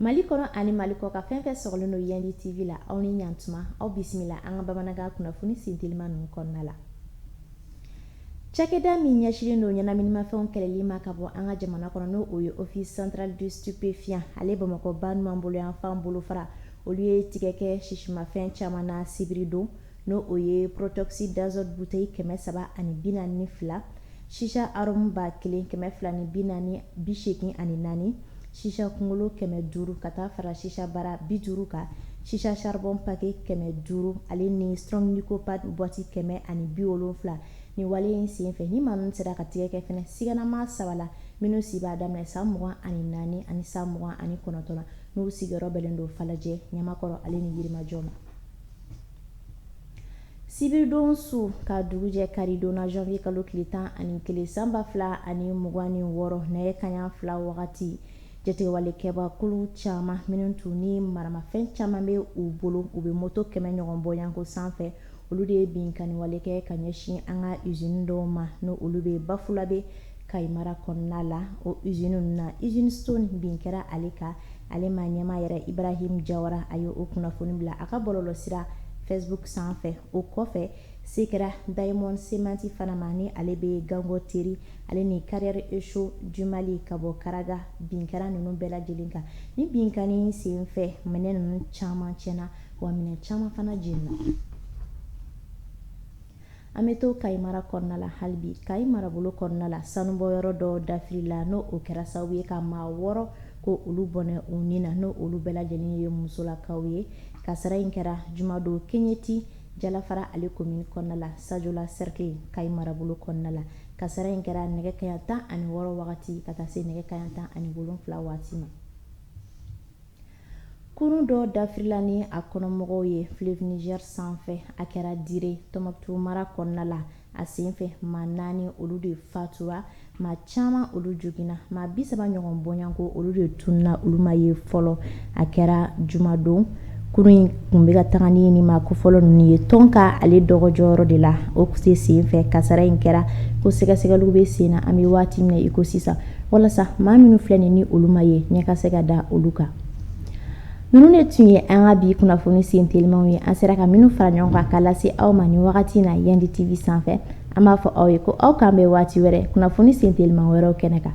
Mali kɔnɔ ani mali kɔkan fɛn fɛn sɔgɔlen don yandi tv la aw ni yan tuma aw bisimila an ka bamanankan kunnafoni sinteliman ninnu kɔnɔna la cakɛda min ɲɛsinlen don ɲɛnaminimafɛnw kɛlɛli ma ka bɔ an ka jamana kɔnɔ n'o o ye office central du stupéfiant ale bamakɔ ba numan bolo yanfan bolofara olu ye tigɛ kɛ sisimafɛn caman na sibiri don n'o o ye protoxyde d'azote bouteille kɛmɛ saba ani bi naani ni fila shisha arôme ba kelen kɛmɛ fila ni bi naani bi seegin ani naani shisha kunkolo kɛmɛ duuru ka taa fara shisha bara bi duuru kan shisha charbon paquet kɛmɛ duuru ale ni strong nicopad boîte kɛmɛ ani bi wolonwula ni wale in senfɛ ni maa ninnu sera ka tigɛ kɛ fana siganamaa saba la minnu si b'a daminɛ san mugan ani naani ani san mugan ani kɔnɔntɔn n'u sigiyɔrɔ bɛnnen don falajɛ ɲamakɔrɔ ale ni yirimajɔ ma sibiridon su ka dugujɛ karidon na janvier kalo tile tan ani kelen san ba fila ani mugan ni wɔɔrɔ nɛgɛ kaɲa fila wagati jatigɛwalekɛbakulu caman minnu tun ni maramafɛn caman bɛ u bolo u bɛ moto kɛmɛ ɲɔgɔn bɔyanko sanfɛ olu de ye binkanniwale kɛ ka ɲɛsin an ka usine dɔw ma n'o olu bɛ bafulabe kayi mara kɔnɔna la o usine ninnu na usine stone bin kɛra ale kan ale ma ɲɛmaa yɛrɛ ibrahim jawara a ye o kunnafoni bila a ka bɔlɔlɔ sira facebook sanfɛ o kɔfɛ se kɛra diamond cement fana ma ni ale bɛ gangonteri ale ni carrière et chaux du mali ka bɔ karaga bin kɛra ninnu bɛɛ lajɛlen kan ni binkanni senfɛ minɛn ninnu caman tiɲɛna wa minɛn caman fana jenina An bɛ to Kayi mara kɔnɔna la hali bi. Kayi marabolo kɔnɔna la, sanubɔ yɔrɔ dɔ dafirila, n'o o kɛra sababu ye ka maa wɔɔrɔ k'olu bɔnɛ u ni na, n'o olu bɛɛ lajɛlen ye musolakaw ye. Kasara in kɛra jumadon keɲeti, Jalafara ale komini kɔnɔna la, Sajola cercle, Kayi marabolo kɔnɔna la. Kasara in kɛra nɛgɛ kaɲa tan ani wɔɔrɔ wagati ka taa se nɛgɛ kaɲa tan ani wolonfila waati ma. Kurun dɔ dafirila ni a kɔnɔmɔgɔw ye fleuve Niger sanfɛ, a kɛra Dire, Tombouctou mara kɔnɔna la. A senfɛ, maa naani olu de fatura, maa caman olu joginna, maa bi saba ɲɔgɔn bɔɲanko olu de tununna, olu ma ye fɔlɔ. A kɛra jumadon. Kurun in tun bɛ ka taga ni nin maa kofɔlen ninnu ye Tonka ale dɔgɔjɔyɔrɔ de la. O senfɛ, kasara in kɛra ko sɛgɛsɛgɛliw bɛ sen na, an bɛ waati min na i ko sisan. walasa maa minnu filɛ nin ni olu ma ye ɲɛ ka se ka da olu kan ninnu de tun ye an ka bi kunnafoni sen telimaw ye an sera ka minnu fara ɲɔgɔn kan k'a lase aw ma nin wagati na yandi tv sanfɛ an b'a fɔ aw ye ko aw k'an bɛn waati wɛrɛ kunnafoni sen teliman wɛrɛw kɛnɛ kan